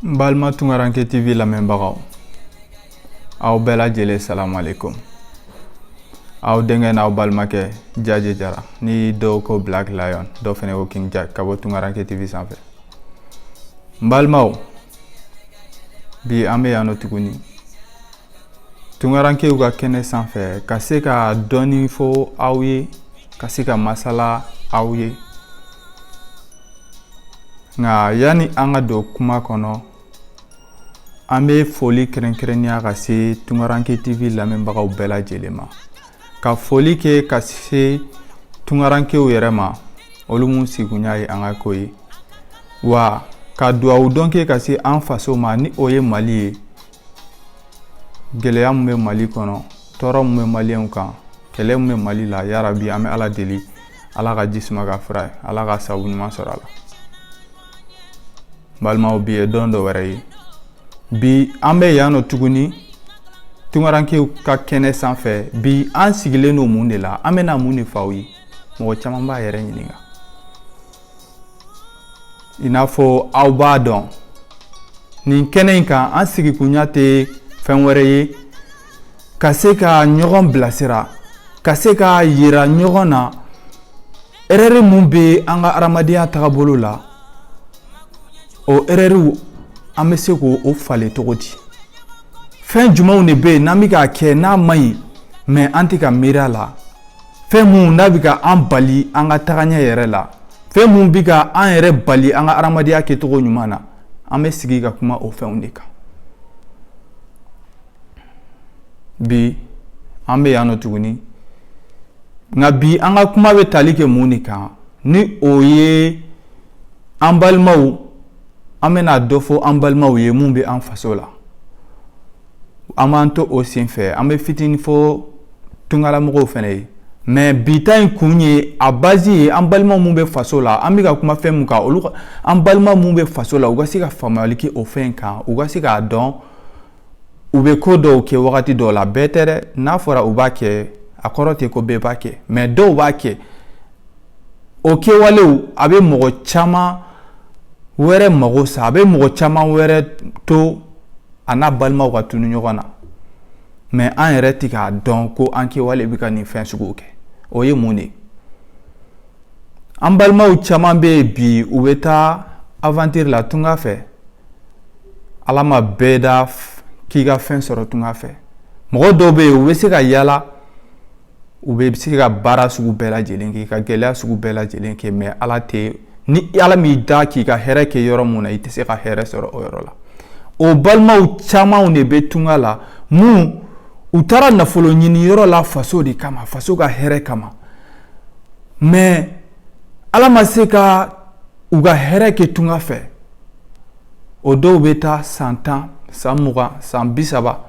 n balima tunkaranke tv lamɛnbagaw aw bɛɛ lajɛlen salamu aleykum aw denkɛ n'aw balimakɛ jaje jara ni dɔw ko black lion dɔw fɛnɛ ko king jack ka bɔ tunkaranke tv sanfɛ n balimaw bi an bɛ yan nɔ tuguni tunkarankew ka kɛnɛ sanfɛ ka se ka dɔɔni fɔ aw ye ka se ka masala aw ye nka yanni an ka don kuma kɔnɔ an bɛ foli kɛrɛnkɛrɛnnenya ka se tunkaranke tv lamɛnbagaw bɛɛ lajɛlen ma ka foli kɛ ka se tunkarankew yɛrɛ ma olu mun sigunya ye an ka ko ye wa ka dugawu don kɛ ka se an faso ma ni o ye mali ye gɛlɛya mun bɛ mali kɔnɔ tɔɔrɔ mun bɛ maliyɛnw kan kɛlɛ mun bɛ mali la yarabi an bɛ ala deli ala ka ji suma k'a fura ye ala ka sabu ɲuman sɔrɔ a la balimaw bi ye don dɔ wɛrɛ ye bi an bɛ yan nɔ tuguni tunkarankew ka kɛnɛ sanfɛ bi an sigilen don mun de la an bɛna mun de fɔ aw ye mɔgɔ caman b'a yɛrɛ ɲininka i n'a fɔ aw b'a dɔn nin kɛnɛ in kan an sigikunya tɛ fɛn wɛrɛ ye ka se ka ɲɔgɔn bilasira ka se k'a yira ɲɔgɔn na erɛri mun bɛ an ka adamadenya tagabolo la o erɛriw an bɛ se k'o falen cogo di fɛn jumɛnw de bɛ yen n'an bɛ k'a kɛ n'a man ɲi mɛ an tɛ ka miiri a la fɛn mun n'a bɛ ka an bali an ka tagaɲɛ yɛrɛ la fɛn mun bɛ ka an yɛrɛ bali an ka adamadenya kɛcogo ɲuman na an bɛ sigi ka kuma o fɛnw de kan bi an bɛ yan nɔ tuguni nka bi an ka kuma bɛ tali kɛ mun de kan ni o ye an balimaw an bɛna dɔ fɔ an balimaw ye mun bɛ an faso la an b'an to o senfɛ an bɛ fitinin fɔ tungalamɔgɔw fɛnɛ ye mɛ bi ta in kun ye a bazi ye an balima mun bɛ faso la an bɛ ka kuma fɛn mun kan olu an balima mun bɛ faso la u ka se ka faamuyali kɛ o fɛn kan u ka se k'a dɔn u bɛ ko dɔw kɛ wagati dɔw la bɛɛ tɛ dɛ n'a fɔra u b'a kɛ a kɔrɔ tɛ ko bɛɛ b'a kɛ mɛ dɔw b'a kɛ o kɛwalew a bɛ mɔgɔ caman wɛrɛ mago sa a bɛ mɔgɔ caman wɛrɛ to a n'a balimaw ka tunu ɲɔgɔn na mɛ an yɛrɛ tɛ k'a dɔn ko an kɛwale bɛ ka nin fɛn suguw kɛ o ye mun de ye an balimaw caman bɛ yen bi u bɛ taa avantiri la tunga fɛ ala ma bɛɛ da k'i ka fɛn sɔrɔ tunga fɛ mɔgɔ dɔw bɛ yen u bɛ se ka yala u bɛ se ka baara sugu bɛɛ lajɛlen kɛ ka gɛlɛya sugu bɛɛ lajɛlen kɛ mɛ ala tɛ ni ala m'i da k'i ka hɛrɛ kɛ yɔrɔ min na i tɛ se ka hɛrɛ sɔrɔ o yɔrɔ la o balimaw camanw de bɛ tunga la minnu taara nafolo ɲini yɔrɔ la faso de kama faso ka hɛrɛ kama mɛ ala ma se ka u ka hɛrɛ kɛ tunga fɛ o dɔw bɛ taa san tan san mugan san bi saba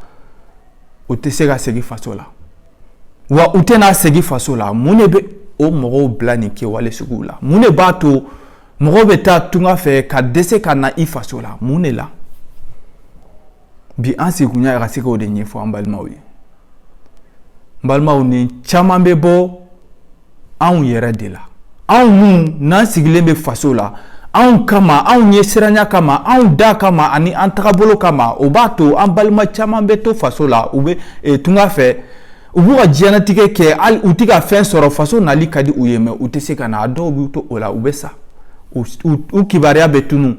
u tɛ se ka segin faso la wa u tɛna segin faso la mun de bɛ o mɔgɔw bila nin kɛwale suguw la mun de b'a to mɔgɔw bɛ taa tunga fɛ ka dɛsɛ ka na i faso la mun de la bi an sigikun ye ka se k'o de ɲɛfɔ an balimaw ye n balimaw nin caman bɛ bɔ anw yɛrɛ de la anw minnu n'an sigilen bɛ faso la anw kama anw ɲɛsiranya kama anw da kama ani an tagabolo kama o b'a to an balima caman bɛ to faso la u bɛ eh, tunga fɛ u b'u ka diɲɛnatigɛ kɛ hali u tɛ ka fɛn sɔrɔ faso nali ka di u ye mɛ u tɛ se ka na a dɔw b'u to o la u bɛ sa u kibaruya bɛ tunun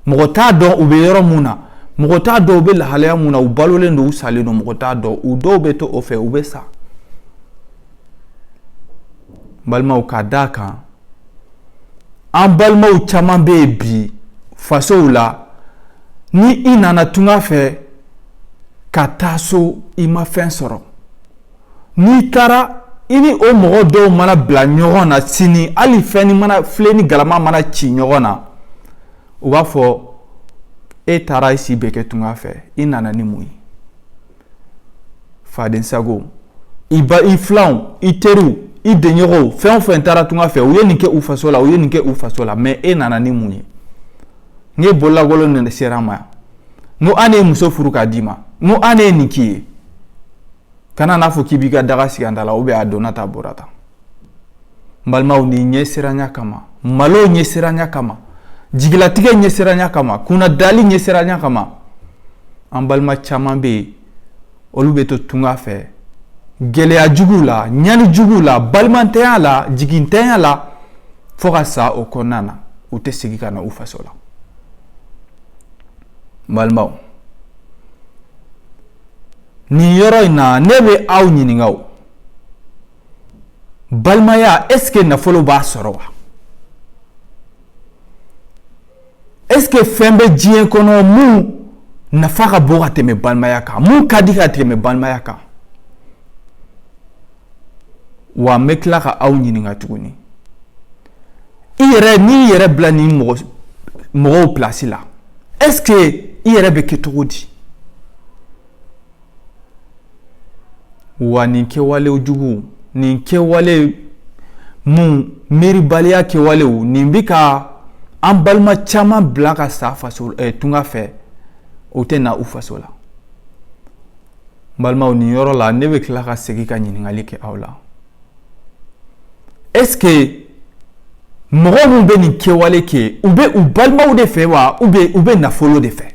mɔgɔ t'a dɔn u bɛ yɔrɔ mun na mɔgɔ t'a dɔn u bɛ lahalaya mun na u balolen don u salen don mɔgɔ t'a dɔn u dɔw bɛ to o fɛ u bɛ sa balimaw ka d'a kan an balimaw caman bɛ yen bi fasow la ni i nana tunga fɛ ka taa so i ma fɛn sɔrɔ n'i taara i ni o mɔgɔ dɔw mana bila ɲɔgɔn na sini hali fɛnnin mana filen ni galama mana ci ɲɔgɔn na u b'a fɔ e taara i si bɛɛ kɛ tunga fɛ i nana ni mun ye fadensago i filanw i teriw i denɲɔgɔnw fɛn o fɛn taara tunga fɛ u ye nin kɛ u faso la u ye nin kɛ u faso la mɛ e nana ni mun ye n k'i bololankolon de sera an ma yan n ko an de ye muso furu k'a d'i ma n ko an de ye nin k'i ye kana n'a fɔ k'i b'i ka daga sigi an da la ubiyɛn a donna ta a bɔra ta balimaw nin ɲɛsiranya kama malo ɲɛsiranya kama jigilatigɛ ɲɛsiranya kama kunnadali ɲɛsiranya kama an balima caman bɛ yen olu bɛ to tunga fɛ gɛlɛya juguw la ɲani juguw la balimantanya la jigintanya la fo ka sa o kɔnɔna na u tɛ segin ka na u faso la balimaw nin yɔrɔ in na ne bɛ aw ɲininka o balimaya eseke nafolo b'a sɔrɔ wa eseke fɛn bɛ diɲɛ kɔnɔ mun nafa ka bon ka tɛmɛ balimaya kan mun ka di ka tɛmɛ balimaya kan wa n bɛ tila ka aw ɲininka tuguni i yɛrɛ n'i yɛrɛ bila nin mɔgɔw pilasi la eseke i yɛrɛ bɛ kɛ cogo di wa nin kɛwale jugu nin kɛwale mun miiribaliya kɛwalew nin bɛ ka an balima caman bila ka sa faso eh, tunga fɛ o tɛ na u faso la n balimaw nin yɔrɔ la ne bɛ tila ka segin ka ɲininkali kɛ aw la est-ce que mɔgɔ minnu bɛ nin kɛwale kɛ u bɛ u balimaw de fɛ wa u bɛ u bɛ nafolo de fɛ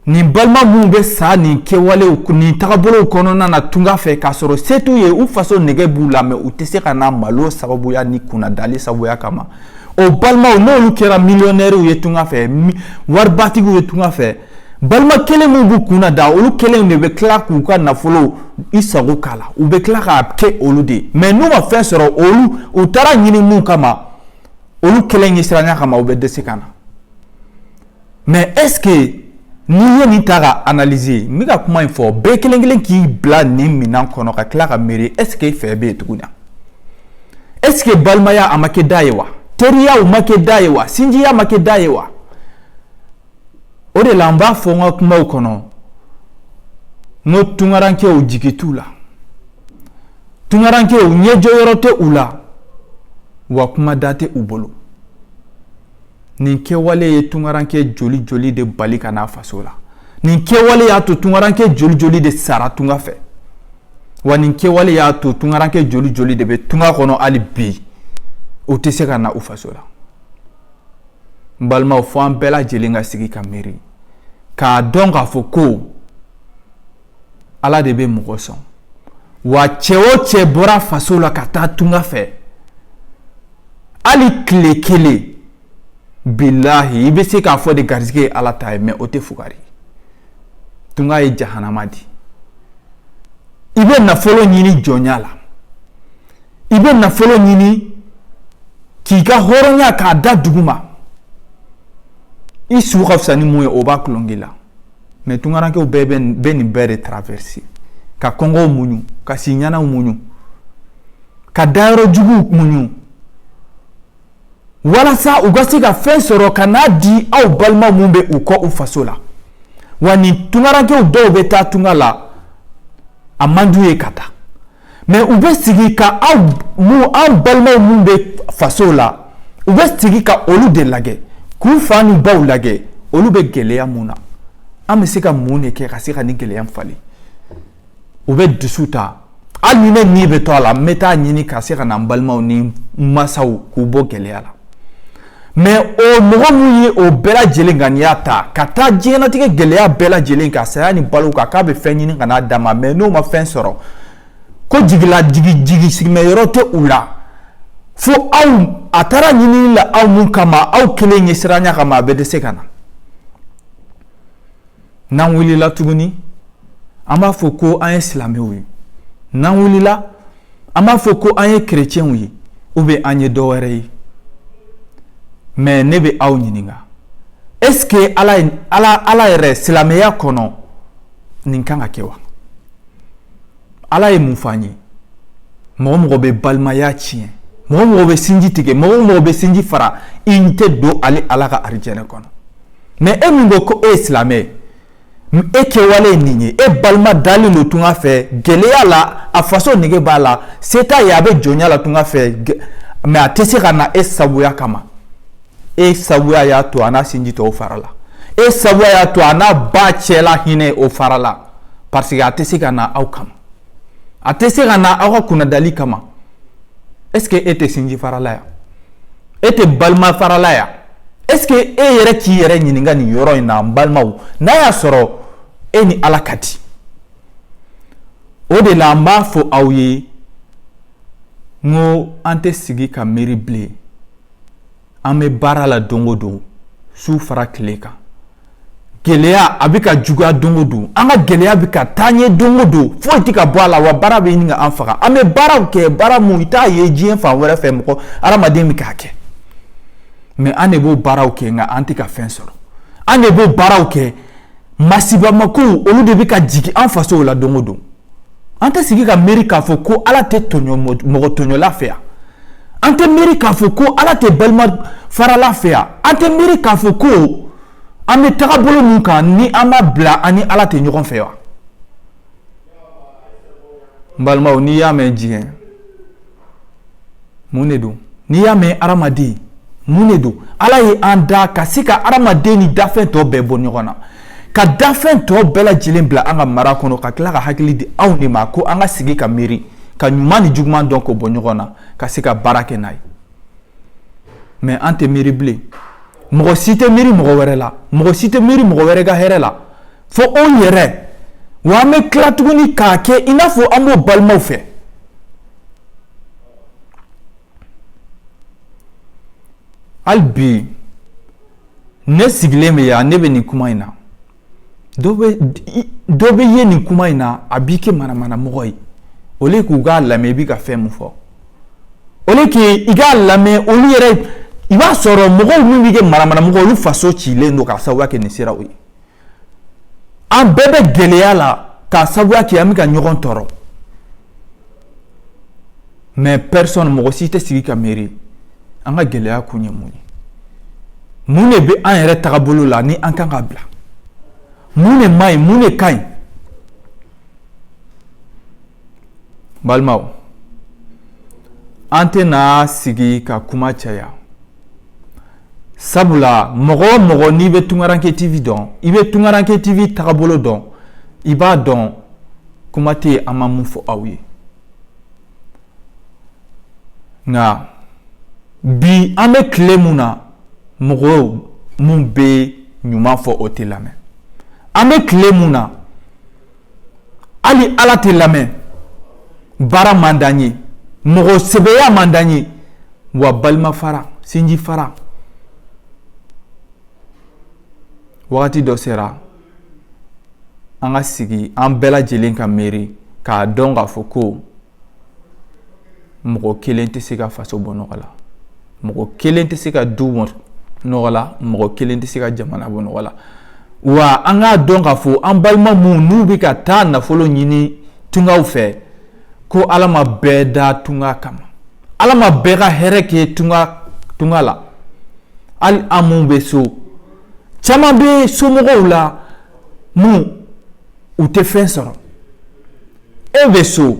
nin balima minnu bɛ sa nin kɛwalew nin tagabolow kɔnɔna na tunga fɛ k'a sɔrɔ se t'u ye u faso nege b'u la mais u tɛ se ka na malo sababuya ni kunnadali sababuya kama o balimaw n'olu kɛra miliyɔnɛriw ye tunga fɛ waribatigiw ye tunga fɛ balima kelen minnu b'u kunna da olu kelen de bɛ tila k'u ka nafolo i sago k'a la u bɛ tila k'a kɛ olu de ye mais n'u ma fɛn sɔrɔ olu u taara ɲini mun kama olu kelen ɲɛsiranya kama u bɛ dɛsɛ ka na mais est-ce que n'i ye nin ta ka analyser n bɛ ka kuma in fɔ bɛɛ kelen kelen k'i bila nin minɛn kɔnɔ ka tila ka miiri est-ce que fɛn bɛ yen tuguni na est-ce que balimaya a ma kɛ da ye wa teriyaw ma kɛ da ye wa sinjiya ma kɛ da ye wa o de la n b'a fɔ n ka kumaw kɔnɔ n ko tunkarankew jigi t'u la Tunkarankew ɲɛjɔyɔrɔ tɛ u la wa kuma da tɛ u bolo nin kɛwale ye tunkaranke joli joli de bali ka n'a faso la nin kɛwale y'a to tunkaranke joli joli de sara tunga fɛ wa nin kɛwale y'a to tunkaranke joli joli de bɛ tunga kɔnɔ hali bi o tɛ se ka na u faso la n balimaw fo an bɛɛ lajɛlen ka sigi ka miiri k'a dɔn k'a fɔ ko ala de bɛ mɔgɔ sɔn wa cɛ o cɛ bɔra faso la ka taa tunga fɛ hali tile kelen bilahi i bɛ se k'a fɔ de garisɛgɛ ye ala ta ye mais o tɛ fugari tunga ye jahanama di i bɛ nafolo ɲini jɔnya la i bɛ nafolo ɲini k'i ka hɔrɔnya k'a da duguma i su ka fisa ni mun ye o b'a tulon k'i la mais tunkarankew bɛɛ bɛ nin bɛɛ de traverser ka kɔngɔw muɲu ka siɲɛnaw muɲu ka dayɔrɔ juguw muɲu walasa u ka se ka fɛn sɔrɔ ka n'a di aw balima minnu bɛ u kɔ u faso la wa nin tunkarankew dɔw bɛ taa tunga la a man d'u ye ka taa mais u bɛ sigi ka aw mun an balimaw minnu bɛ faso la u bɛ sigi ka olu de lajɛ k'u fa ni baw lajɛ olu bɛ gɛlɛya mun na an bɛ se ka mun de kɛ ka se ka nin gɛlɛya falen u bɛ dusu ta hali ni ne ni bɛ to a la n bɛ taa ɲini ka se ka na n balimaw ni n masaw k'u bɔ gɛlɛya la mɛ o mɔgɔ min ye o bɛɛ lajɛlen ŋaniya ta ka taa diɲɛnatigɛ gɛlɛya bɛɛ lajɛlen kan saya ni balo kan k'a bɛ fɛn ɲini ka n'a d'a ma mɛ n'o ma fɛn sɔrɔ ko jigila jigi jigi sigimɛ yɔrɔ tɛ u la fo aw a taara ɲinini la aw mun kama aw kelen ɲɛsiranya kama a bɛ dɛsɛ ka na n'an wulila tuguni an b'a fɔ ko an ye silamɛw ye n'an wulila an b'a fɔ ko an ye kerecɛnw ye ou bien an ye dɔ wɛrɛ ye mɛ ne bɛ aw ɲininka est-ce que ala ala yɛrɛ silamɛya kɔnɔ nin kan ka kɛ wa ala ye mun f'an ye mɔgɔ o mɔgɔ bɛ balimaya tiɲɛ mɔgɔ o mɔgɔ bɛ sinji tigɛ mɔgɔ o mɔgɔ bɛ sinji fara i tɛ don ale ala ka arijɛnɛ kɔnɔ mɛ e min ko ko e ye silamɛ ye e kɛwale ye nin ye e balima dalen don tunga fɛ gɛlɛya la a faso nege b'a la se t'a ye a bɛ jɔnya la tunga fɛ mɛ a tɛ se ka na e sabuya kama e sabuya y'a to a n'a sinji tɔw farala e sabuya y'a to a n'a ba cɛla hinɛ o farala parce que a tɛ se ka na aw kama a tɛ se ka na aw ka kunnadali kama est ce que e tɛ sinji farala yan e tɛ balima farala yan est ce que e yɛrɛ k'i yɛrɛ ɲininka nin yɔrɔ in na n balimaw n'a y'a sɔrɔ e ni ala ka di o de la n b'a fɔ aw ye n ko an tɛ sigi ka miiri bilen an bɛ baara la don o don su fara tile kan gɛlɛya a bɛ ka juguya don o don an ka gɛlɛya bɛ ka taa ɲɛ don o don foyi tɛ ka bɔ a la wa baara bɛ ɲini k'an faga an bɛ baaraw kɛ baara min i t'a ye diɲɛ fan wɛrɛ fɛ mɔgɔ hadamaden bɛ k'a kɛ mɛ an de b'o baaraw kɛ nka an tɛ ka fɛn sɔrɔ an de b'o baaraw kɛ masibamakow olu de bɛ ka jigin an fasow la don o don an tɛ sigi ka miiri k'a fɔ ko ala tɛ tɔɲɔ mɔgɔ tɔɲɔla fɛ yan an tɛ miiri k'a fɔ ko ala tɛ balima farala fɛ yan an tɛ miiri k'a fɔ ko an bɛ tagabolo min kan ni an m'a bila an ni ala tɛ ɲɔgɔn fɛ wa n balimaw n'i y'a mɛn diɲɛ Mun de don n'i y'a mɛn hadamaden mun de don ala ye an da ka se ka hadamaden ni dafɛn tɔ bɛɛ bɔ ɲɔgɔn na ka dafɛn tɔ bɛɛ lajɛlen bila an ka mara kɔnɔ ka tila ka hakili di anw de ma ko an ka sigi ka miiri ka ɲuman ni juguman dɔn k'o bɔ ɲɔgɔn na ka se ka baara kɛ n'a ye mɛ an tɛ miiri bilen mɔgɔ si tɛ miiri mɔgɔ wɛrɛ la mɔgɔ si tɛ miiri mɔgɔ wɛrɛ ka hɛrɛ la fo anw yɛrɛ wa an bɛ tila tuguni k'a kɛ i n'a fɔ an b'o balimaw fɛ hali bi ne sigilen bɛ yan ne bɛ nin kuma in na dɔ bɛ ye nin kuma in na a b'i kɛ manamana mɔgɔ ye au lieu k'u k'a lamɛn i bɛ ka fɛn min fɔ au lieu que i k'a lamɛn olu yɛrɛ i b'a sɔrɔ mɔgɔw min b'i kɛ manamana mɔgɔ olu faso cilen don k'a sabuya kɛ nin siraw ye an bɛɛ bɛ gɛlɛya la k'a sabuya kɛ an bɛ ka ɲɔgɔn tɔɔrɔ mais personne mɔgɔ si tɛ sigi ka miiri an ka gɛlɛya kun ye mun ye mun de bɛ an yɛrɛ tagabolo la ni an kan ka bila mun de man ɲi mun de ka ɲi balimaw an tɛna sigi ka kuma caya sabula mɔgɔ o mɔgɔ n'i bɛ tunkaranke tv dɔn i bɛ tunkaranke tv tagabolo dɔn i b'a dɔn kuma tɛ yen an ma mun fɔ aw ye nka bi an bɛ tile mun na mɔgɔw mun bɛ ɲuman fɔ o tɛ lamɛn an bɛ tile mun na hali ala tɛ lamɛn baara man d'an ye mɔgɔ sɛbɛya man d'an ye wa balima fara sinji fara wagati dɔ sera an ka sigi an bɛɛ lajɛlen ka miiri k'a dɔn k'a fɔ ko mɔgɔ kelen tɛ se ka faso bɔ nɔgɔ la mɔgɔ kelen tɛ se ka du bɔ nɔgɔ la mɔgɔ kelen tɛ se ka jamana bɔ nɔgɔ la wa an k'a dɔn k'a fɔ an balima minnu n'u bɛ ka taa nafolo ɲini tungaw fɛ ko ala ma bɛɛ da tunga kama ala ma bɛɛ ka hɛrɛ kɛ tunga la hali an minnu bɛ so caman bɛ somɔgɔw la mun u tɛ fɛn sɔrɔ e bɛ so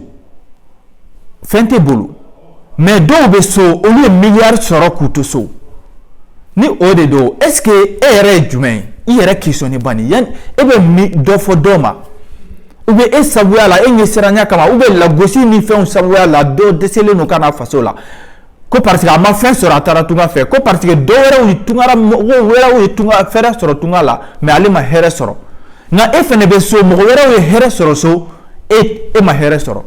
fɛn t'e bolo mais dɔw bɛ so olu ye miliyari sɔrɔ k'u to so ni o de don est-ce que e yɛrɛ ye jumɛn ye i yɛrɛ questionner bani yani e bɛ dɔ fɔ dɔ ma ou bien e sabuya la e ɲɛsiranya kama ou bien lagosi ni fɛnw sabuya la dɔ dɛsɛlen don ka na faso la ko parce que a ma fɛn sɔrɔ a taara tunga fɛ ko parce que dɔ wɛrɛw ye tunga mɔgɔ wɛrɛw ye tunga hɛrɛ sɔrɔ tunga la mais ale ma hɛrɛ sɔrɔ nka e fana bɛ so mɔgɔ wɛrɛw ye hɛrɛ sɔrɔ so e ma hɛrɛ sɔrɔ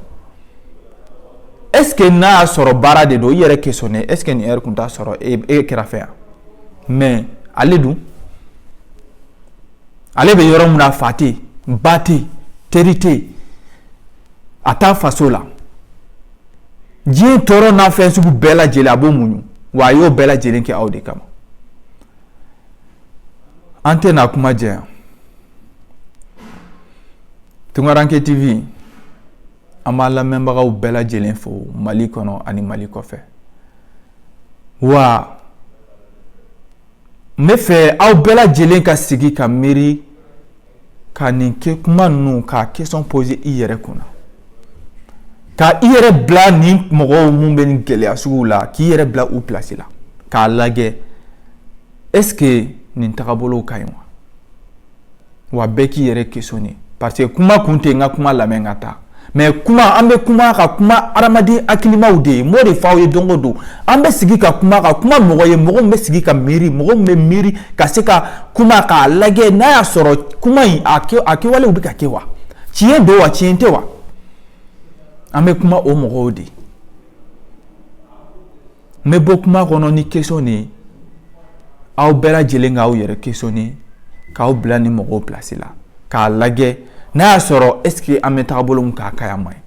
est-ce que n'a y'a sɔrɔ baara de don i yɛrɛ questionner est-ce que nin yɛrɛ tun t'a sɔrɔ e kɛrɛfɛ yan mais ale dun ale bɛ yɔrɔ min na fa tɛ ba tɛ teri tɛ a t'a faso la diɲɛ tɔɔrɔ n'a fɛn sugu bɛɛ lajɛlen a b'o muɲu wa a y'o bɛɛ lajɛlen kɛ aw de kama an tɛna kuma jɛya tunkaranke tv an b'a lamɛnbagaw bɛɛ lajɛlen fo mali kɔnɔ ani mali kɔfɛ wa n bɛ fɛ aw bɛɛ lajɛlen ka sigi ka miiri ka nin kɛ kuma ninnu ka question poser i yɛrɛ kunna ka i yɛrɛ bila nin mɔgɔw mun bɛ nin gɛlɛya sugu la k'i yɛrɛ bila u place la k'a lajɛ est-ce que nin tagabolow ka ɲi wa wa bɛɛ k'i yɛrɛ questionner parce que kuma kun tɛ n ka kuma lamɛn ka taa mais kuma an bɛ kuma ka kuma hadamaden hakilimaw de ye m'o de f'aw ye don o don an bɛ sigi ka kuma ka kuma mɔgɔ ye mɔgɔ min bɛ sigi ka miiri mɔgɔ min bɛ miiri ka se ka kuma k'a lajɛ n'a y'a sɔrɔ kuma in a kɛwalew bɛ ka kɛ wa tiɲɛ don wa tiɲɛ tɛ wa an bɛ kuma o mɔgɔw de ye n bɛ bɔ kuma kɔnɔ ni question de ye aw bɛɛ lajɛlen k'aw yɛrɛ questionner k'aw bila nin mɔgɔw place la k'a lajɛ n'a y'a sɔrɔ est-ce que an bɛ taabolo mun kan a ka ɲi a man ɲi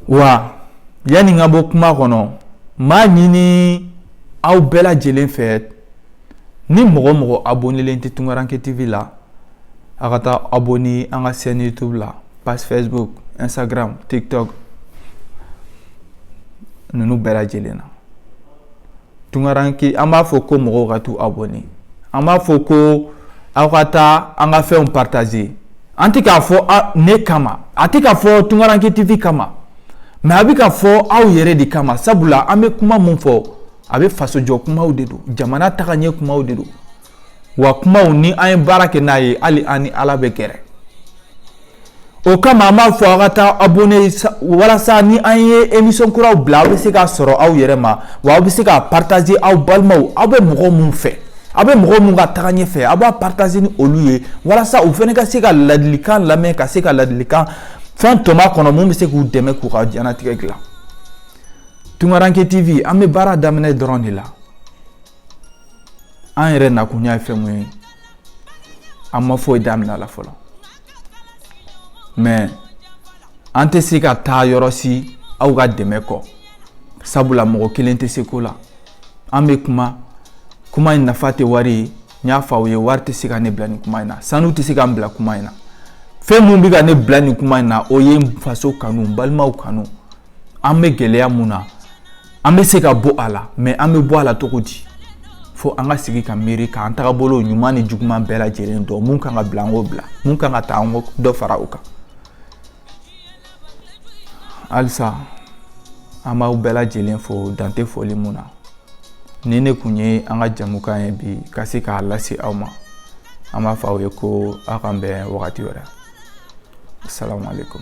wa yanni n ka bɔ kuma kɔnɔ m'a ɲini aw bɛɛ lajɛlen fɛ Ni mɔgɔ o mɔgɔ abonnelen tɛ Tunkaranke TV la a ka taa abonner an ka chaîne YouTube la page Facebook Instagram TikTok ninnu bɛɛ lajɛlen na Tunkaranke an b'a fɔ ko mɔgɔw ka taa abonner an b'a fɔ ko aw ka taa an ka fɛnw partager an tɛ k'a fɔ ne kama a tɛ ka fɔ Tunkaranke TV kama mais a bɛ ka fɔ aw yɛrɛ de kama sabula an bɛ kuma mun fɔ a bɛ fasojɔ kumaw de don jamana tagaɲɛ kumaw de don wa kumaw ni an ye baara kɛ n'a ye hali an ni ala bɛ gɛrɛ o kama an b'a fɔ aw ka taa abonner walasa ni an ye émission kuraw bila aw bɛ se k'a sɔrɔ aw yɛrɛ ma wa aw bɛ se k'a partager aw balimaw aw bɛ mɔgɔ minnu fɛ aw bɛ mɔgɔ minnu ka tagaɲɛ fɛ aw b'a partager ni olu ye walasa u fana ka se ka ladilikan lamɛn ka se ka ladilikan fɛn tɔmɔ a kɔnɔ mun bɛ se k'u dɛmɛ k'u ka diɲɛnatigɛ dilan Tunkaranke TV an bɛ baara daminɛ dɔrɔn de la an yɛrɛ nakun ye fɛn mun ye an ma foyi daminɛ la fɔlɔ mais an tɛ se ka taa yɔrɔ si aw ka dɛmɛ kɔ sabula mɔgɔ kelen tɛ se ko la an bɛ kuma kuma in nafa tɛ wari ye n y'a fɔ aw ye wari tɛ se ka ne bila nin kuma in na sanu tɛ se ka n bila kuma in na fɛn mun bɛ ka ne bila nin kuma in na o ye n faso kanu n balimaw kanu an bɛ gɛlɛya mun na an bɛ se ka bɔ a la mɛ an bɛ bɔ a la cogo di fo an ka sigi ka miiri k'an tagabolo ɲuman ni juguman bɛɛ lajɛlen dɔn mun kan ka bila an k'o bila mun kan ka ta an k'o dɔ fara o kan halisa an b'aw bɛɛ lajɛlen fo dan tɛ foli mun na nin ne kun ye an ka jamukan ye bi ka se k'a lase aw ma an b'a fɔ aw ye ko aw k'an bɛn wagati wɛrɛ asalaamaaleykum